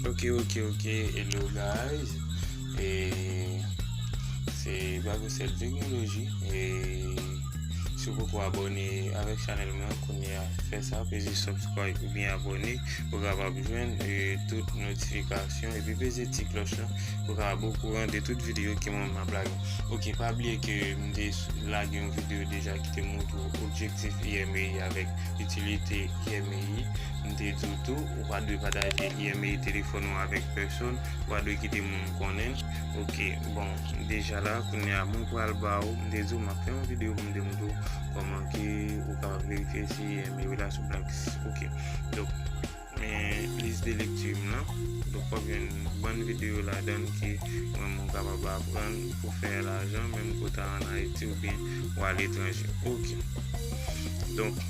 Ok ok ok hello guys e se Babocel Technology e si pou pou abone avèk chanel mwen kounye a fè sa peze subscribe ou bien abone pou kapab jwenn e tout notifikasyon epi peze ti kloch la pou kapab ou kouran de tout video ki mwen map lage ok pa bliye ke mde lage yon video deja ki te moutou objektif IMEI avèk itilite IMEI mde di ou tou Ou pa dwe pataje email, telefòn ou avèk pèsonn. Ou pa dwe kite moun konnen. Ok, bon, deja la, kounye a, mwen pral ba ou, m te di ou m ap fè yon videyo pou m te montre ou kòman ke ou kapab verifye si email ou la sou blacklist. Ok, donk, men list de lecture m lan. Donk, w ap jwenn bann videyo ladan l ke mwen menm ou kapab aprann pou fè lajan menm ke w ta an Ayiti oubyen ou a letranje. Ok, donk.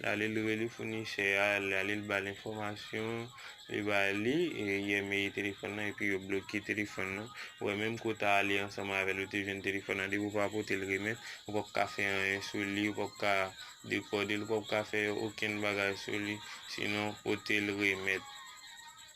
L ale l rele founisè a, l ale l ba l enfòmasyon, li ba li yèmeye telefòn nan epi yo bloke telefòn nan. Ou wè menm ke w ta ale ansanm avè l ou te jwenn telefòn nan depi w pa pote l remèt, ou pap ka fè anyen sou li, ou pap ka dekòde l, ou pap ka fè okenn bagay sou li sinon pote l remèt.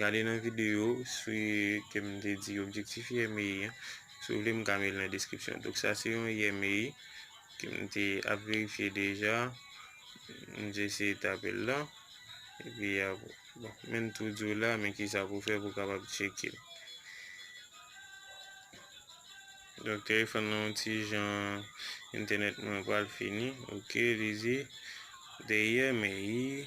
Gade nan video sou ke m te di objektif IMEI an. Si w vle m ka met l nan deskripsyon. Donk sa se yon IMEI ke m te ap verifye deja. M te eseye tape l la. E pi ap, bon, men m tou di w la men kisa pou w fè pou w kapab tcheke l. Donk telefòn nan yon ti jan, entènèt mwen pral fini. Ok, li di, The IMEI.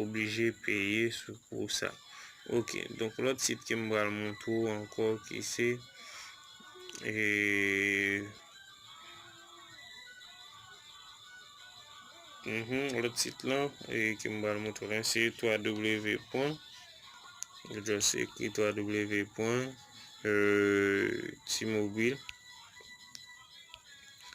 oblije peye sou pou sa ok donk lòt sit kem pral moutre w ankò ki se ee lòt sit lan kem pral moutre w lan se ww pwen ou just ekri ww pwen t-mobile